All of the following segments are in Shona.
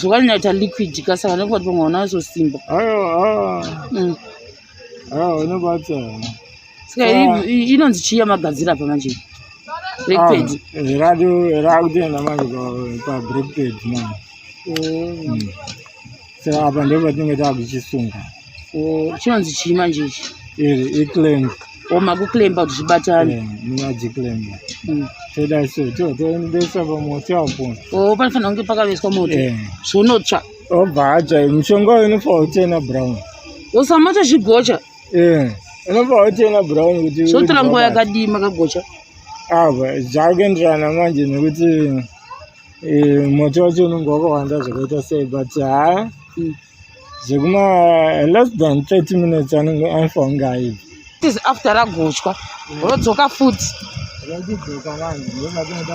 zvakanyata liquid kasa vanenge vati pamwe vana vazosimba unobata ska inonzi chiya magadzira apa manje breakpad rakutoenda manje pabreakpad manje saka apa ndipo patinenge taakuchisunga chinonzi chii manje ichi iri iclaim o makuclaimba kuti zvibatane munyadziclaimba mm. toda so to toendesa pamoto apo o oh, panofanira kunge pakaveswa moto zvonotsva obva atsva mushonga uyu unofanira kutena brown osamata zvigocha unofanira kutena brown kuti zvotora nguva yakadii makagocha ava zvakuenderana manje nekuti Eh, moto wacho unenge wakawanda zvakaita sei but haa zvekuma less than 30 minutes anenge afa unge aibva is after ragochwa rodzoka futi rakudzoka vanhu ndovatinoda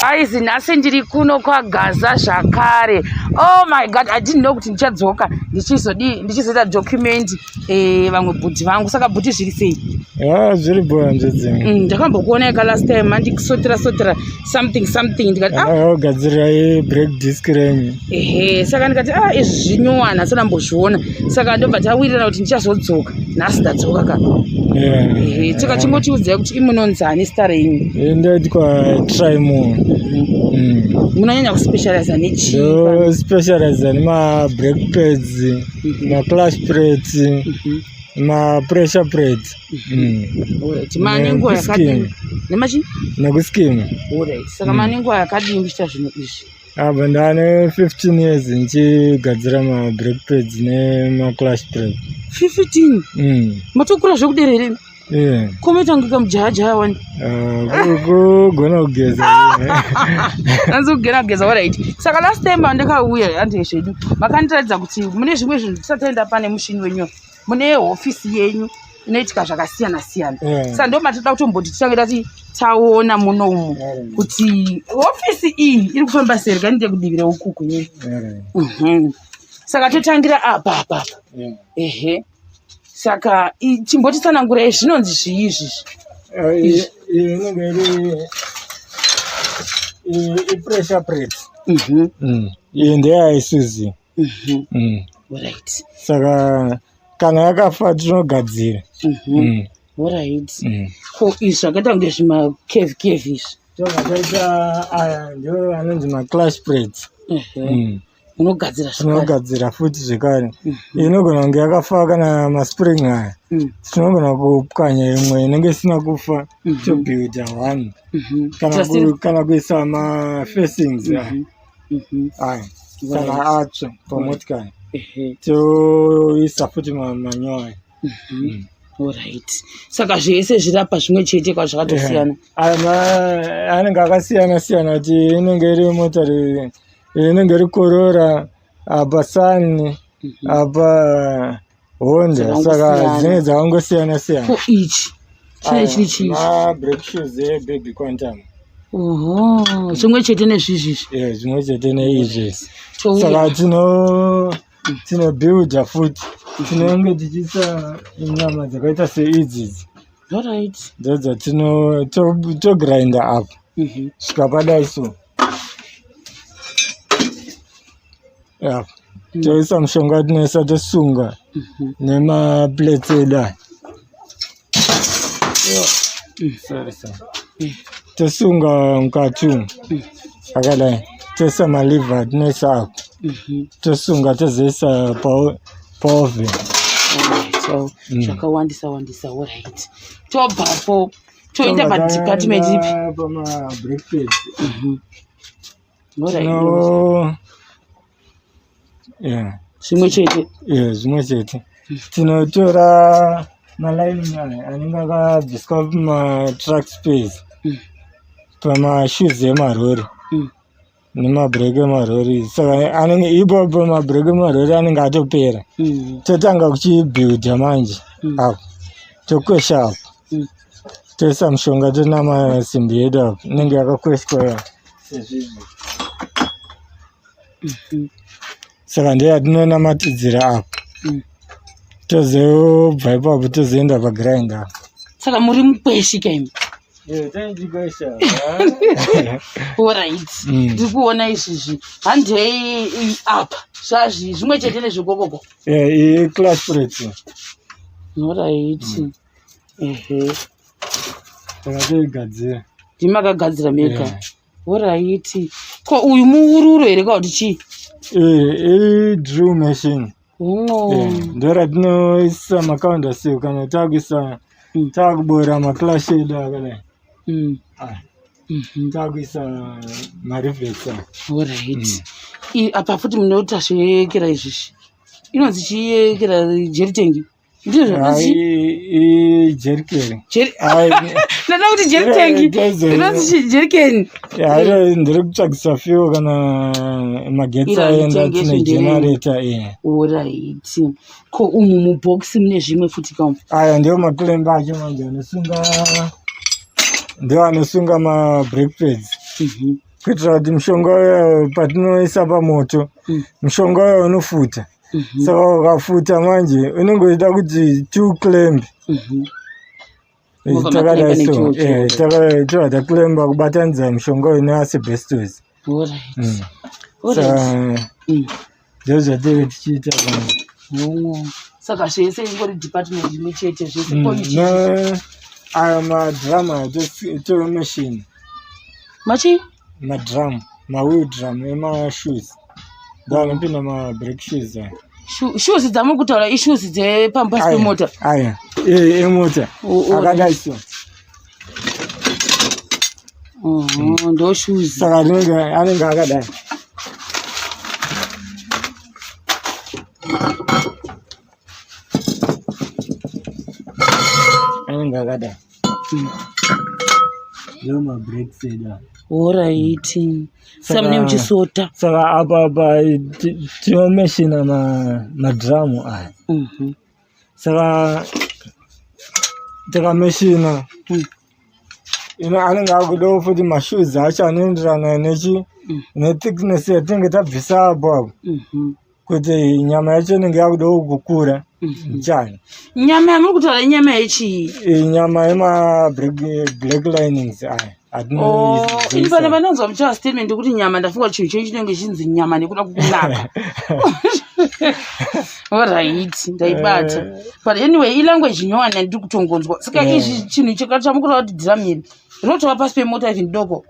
guys nhasi ndiri kuno kwagaza zvakare oh my god i didn't know kuti ndichadzoka ndichizodii ndichizoita document eh, vamwe bhudhi vangu saka bhudhi zviri sei ah, zviri bhoanzve dzimwe mm, ndakambokuona eka last time andikusotera sotera something something ndikati ah. agadzirira break disk renyu ehe saka ndikati a ah, izvi zvinyuwana sona mbozviona saka ndobva tawirirana kuti ndichazodzoka nhasi ndadzoka ka ehe saka chingotiudzai kuti imunonzani star renyu eh, ndaitwa trimo mm. munonyanya kuspecializa nechispecializa nemabreak pads mhm. maclash plates mhm. mapressure plates mhm. mm. manenguva yakadini nemachini nekuskim saka manenguva yakadini kuchita zvinhu izvi apa ndane 15 years ndichigadzira mabrake pads nemaclash break 15 mm. matokura zvekudera here Yeah. Kometanga kamjaja wani. Uh, kugona kugeza. Anzi kugera kugeza alright. Saka last time andikauya handezvedu. Makandiratidza kuti mune zvimwe zvinhu tisataenda pane mushini wenyu. mune hofisi yenyu inoitika zvakasiyana siyana mm. sa ndo matida kutomboti titange tati taona muno umu mm. kuti hofisi iyi iri kufamba seri kani ndekudivire ukuku yei mm. mhm. saka totangira apa apa mm. ehe saka chimboti tsanangura izvi zvinonzi zvii izvizvi eh, inenge iri ipressure press iyi mhm. mm. ndeyaisuzi mm. Mhm. Mm. Alright. saka kana yakafa tinogadzira Mhm. Mm. Alright. Mm. Ko izvi zvakaita kunge zvima cave cave izvi. zvakaita aya ndiwo anonzi maclash plates Ehe. Mm. Unogadzira zvakare. tinogadzira futi zvekare inogona kunge yakafa kana maspring aya Mm. tinogona kupwanya imwe inenge isina kufa Mhm. tobuilda one Mhm. kana Just in- ku- kana kuisa mafacings aya Mhm. mhm. aya kana atsva pamotikari toisa futi manyowa aya mhm. mm. orit saka zvese zvirapa zvimwe chete kwazvakatosiyana anenge akasiyana siyana kuti inenge iri motari inenge iri korora apa sani apa honda saka dzinenge dzakangosiyana siyana for each chine ah, chiri chii break shoes ebaby quantum oho chimwe chete nezvizvizvi e zvimwe chete neizvi saka tino tinobuilda futi tinenge tichiisa nyama dzakaita seidzidzi orit dzodzo tino togrinda apo mhm. svika padai so Yeah. Mm. Toisa mshonga tinoisa tosunga mm -hmm. nemaplates edu aya. Yeah. Mm. Sorry, sorry. Mm. Tosunga mkati umu. Mm. Akadai. Toisa maliver tinoisa ako. Mm -hmm. Tosunga tozoisa paoven. Pa so mm. zvakawandisa mm. wandisa orit tobvapo toenda padepartment ipi zvimwe chete zvimwe chete tinotora malining aya anenge akabviswa pamatrack space mm. pamashoes emarori mm. nemabreak emarori saka anenge ipapo mabreak emarori anenge atopera mm. totanga kuchibuilda manje apo tokwesha apo toisa mushonga tonama simbi yedu apa inenge yakakweshwa sezvizvi mhm. saka ndiyo yatinonamatidzira apa mm. tozobva ipapo tozoenda pagrind apa saka muri mukweshi kaimi orit mm. ndiri kuona izvizvi handei apa zvazvi zvimwe chete nezvekokoko eh, iclass preti orit mm. ndakatoigadzira ndimi makagadzira mega yeah. oraiti ko uyu muururo here ka kuti chii idrew eh, machine eh, ndo ratinoisa makaunda siku kana takuisa mm. takubora maclash edu akadai mm. ah, mhm. takuisa marivesa orit mm. apa futi munotashoyekera izvizvi inonzi chiyekera jeritengi ndizvo zvakanzi jerikeni ndada kuti jeritengi inonzi jerikeni ndiri kutsvagisa fiwo kana magetsi aenda tine genareta oraiti ko umu mubhokisi mune zvimwe futi kam aya ndiwo makilemba acho manje anosunga ndiwo anosunga mabreakpads mhm. kuitira kuti mushonga uyo patinoisa pamoto mm. mushonga uyo unofuta mm -hmm. saka wakafuta manje unenge uchida kuti two clamb mm -hmm takadaisotakakulemba kubatanidza mushonga uyu neasibestos ndozvateve tichiita saka zvese ingori department imwe chete zvese aya madrama tomachine machine madrum mawheel drum emashoes ndo anopinda mabreak shoes aya shoes dzamuri kutaura ishoes dzepambasi pemota aya eh, emota akadai so mm-hmm, ndo shoes saka anenge akadai anenge akadai oraiti samune muchisota saka apa apa tinomeshina madhiramu aya mhm. saka tikameshina mm. ino anenge akudawo futi mashoes acho anoenderana nechi mm. nethickness yatinenge tabvisa apo apo mhm. kuti nyama yacho inenge yakudawo kukura mhm. chani nyama yamuri kutaura inyama yechii inyama yemablack linings aya Oh, ini pane vanonzwa muchava statement yekuti nyama ndafunga chinhu chenyu chinenge chinzi nyama nekuda kukunaka orit ndaibata eh. but anyway ilanguage nyowani yandiri kutongonzwa saka eh. izvi chinhu chakachamukura kuti dhiramiri rinotova pasi pemota even doko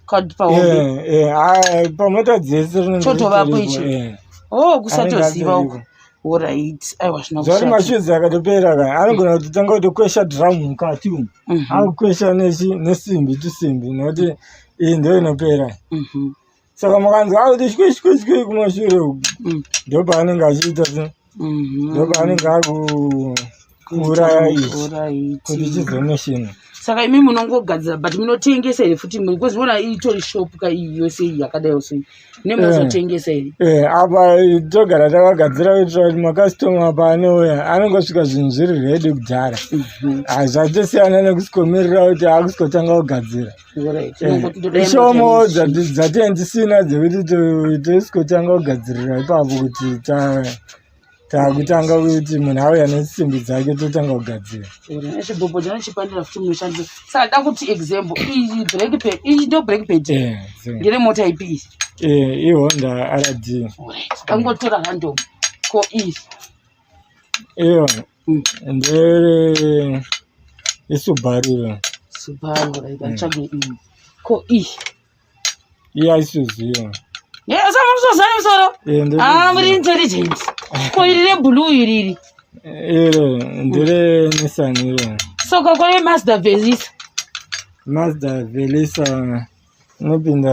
card pahombe eh eh pamota dzese rinenge chotovapo ichi eh. oh kusatoziva uko orit aiwa zvinoari mashuzi akatopera ka anogona kutotanga kutokwesha drum mukati umu mhm. akukwesha nesimbi tusimbi nokuti iyi ndo inopera mhm. saka mukanzwa akuti shweshweshwe kumashure uku mm. ndopaanenge achiita mhm. ndopaanenge akuuraya ichi kuti chizoneshina saka imi munongogadzira but munotengesa here futi because vona itori shop ka iyi yose iyi yakadai so nemuzotengesa eh. here eh, apa togara takagadzira kuitira kuti makastoma paanouya anongosvika zvinhu zviri redi kudhara mhm. ah, zvachosiyana nekusikomirira kuti akusitotanga kugadzira ishomo dzatee ndisina dzekuti tosikotanga kugadzirira ipapo kuti takutanga kuti munhu auya nesimbi dzake totanga kugadzira chibhobho chanochipandira futi munoshandisa saka da kuti example iyi break pad iyi ndo break pad ndine mota ipi iyi ihonda rd angotora handomu ko iyi iyo ndere isubaru ira subaru right mm. atsvage iyi ko iyi iya isuziva yesamusosana musoro aa muri intelligent ko iri reblue iriri iro ndere nisani iro soko kore mazda velisa mazda velisa inopinda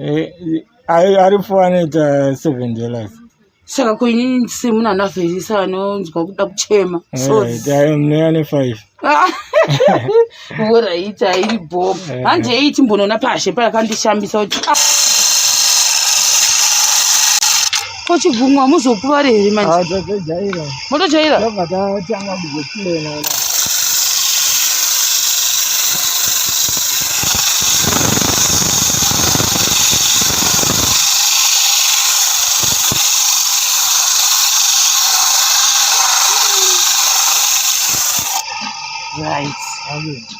Eh, ari ari foanoita seven dollars saka ko inini ndisiri munhu anavheyisa anonzwa kuda kuchema sorry Eh, mneya nefive woraiti airi bhom Eh. hanje iyi timbonoona pashe payakandishambisa kuti ah, Ko chigumwa muzokuvare here manje? Ah, tatojaira. Motojaira? Tobva tatanga kuzoplana. Right. Amen.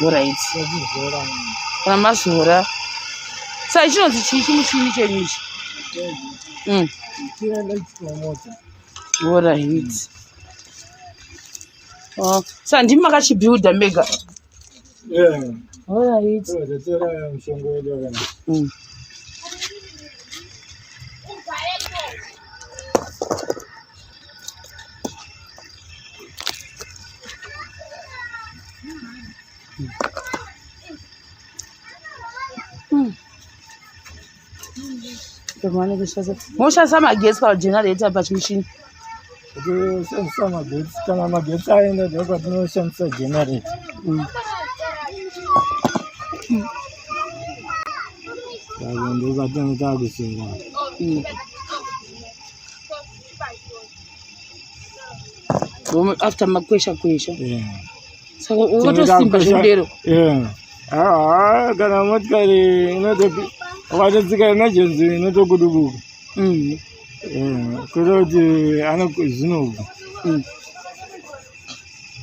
mvura idzi kana mazora sai chinonzi chii chimuchini chenyu ichi mm. mvura idzi oh, sa ndimi makachibuilda mega mvura idzi mm. moshandisa magetsi pagenerator pachimuchini shandisa magetsi kana magetsi aenda ndokatinoshandisa generator ndokatinotaa kusingaa after makwesha kwesha saka ukatosimba zvinodero haa kana motikari ukatotsika emergency inotokudubuka mm. kuita kuti anozvinobva mm.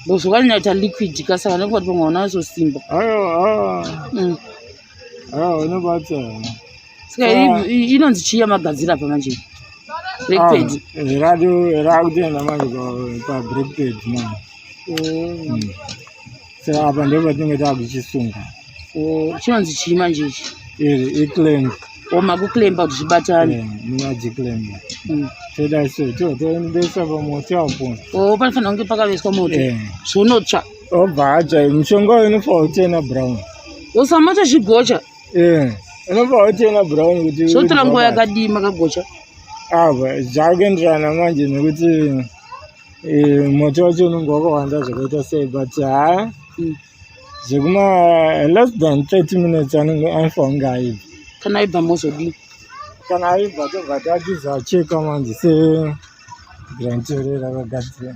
bcause ukaninaita liquid ka saka nekuti pamwe unazosimba mm. unobatsira saka inonzi chiya magadzira apa manje breakpad rakutoenda manje pabreakpad manje saka apa ndipo patinenge taakuchisunga chinonzi chii manje ichi iri iclamp oma kuclampa kuti zvibatane munyadziclampa toda so to toendesa pamoto apo o panofanira kunge pakaveswa moto zvonotsva obva atsva mushonga uyu unofa utena brown usamoto zvigocha Eh, unobva wationa brown kuti zvotora nguva yakadii makagocha apa zvakuenderana manje nekuti eh, moto wacho unenge wakawanda zvakaita sei but haa hmm. zvekuma less than thirty minutes anenge afa kunge aibva kana aibva mozodii kana aibva tobva tatiza cheka manje se granterera vagadzira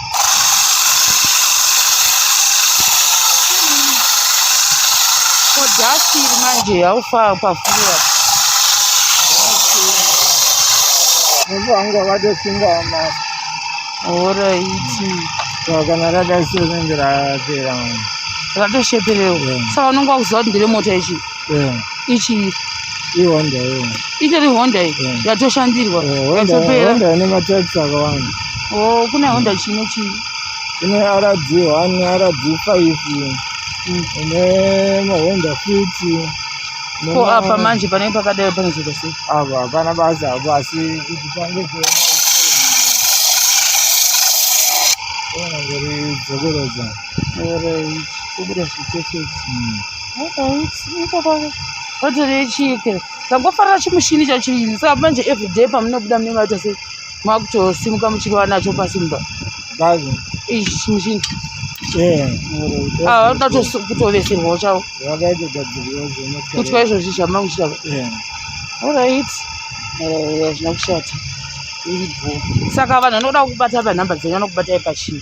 Kodhasi iri manje yaufa pafuwa. Munhu wangu wakadosinga masi. Alright. Saka nakadasi unenge rapera. Ratosheperewo. Saka unenge wakuziva kuti ndire mota ichi. eh. ichi ihonda iyo itori honda iyi eh. yatoshandirwa eh, yatoperahonda ine matypes akawanda o kune honda chine chii kune rd one rd five mm. ine mahonda fiti ko apa manje panenge pakadai panozoita sei apa hapana basa apo asi kuti pange dzokoroza kubuda zvitefeti vatorechike tangofarira chimushini chachii saka manje everyday pamunobuda mune maita sei makutosimuka muchirova nacho pasi mumba chimushini vanodatokutobesirwawo ah, chavo kutwa izvozvi zvamangu chitava orit hazvina kushata saka vanhu vanoda kubata panhamba dzenyu vanokubatai pachii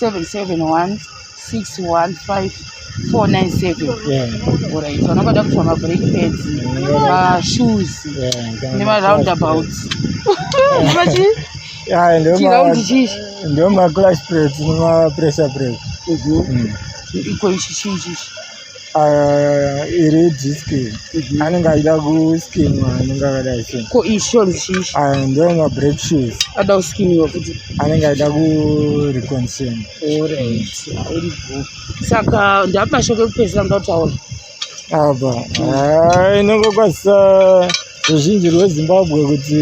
771 615 orit vanokada kutsva mabreak pads mashoes nemaroundabouts ndio maclash pads nemapressure break iko ichi chii chichi Ah, iri diski mhm. anenge achida kuskinwa anenge akadai so ko ishon chii ah, ndiwo mabreak shoes ada kuskiniwa kuti anenge achida kureconsin orit saka ndapashoko ekupedzisira ndataura apa ah, inongokwasisa ruzhinji rwezimbabwe kuti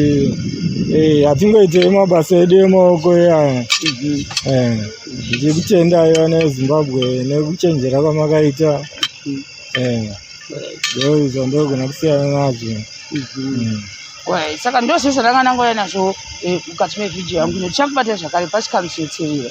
eh, hatingoitei mabasa edu emaoko iyaya eh, ndichikutendai vana vezimbabwe nekuchenjera kwamakaita eh, ndoizvo ndogona kusiyana nazvo mm. saka ndozvo zvandanganangouya nazvo mukati mevhidhiyo yangu nekuti chakubata zvakare pachikamusetserera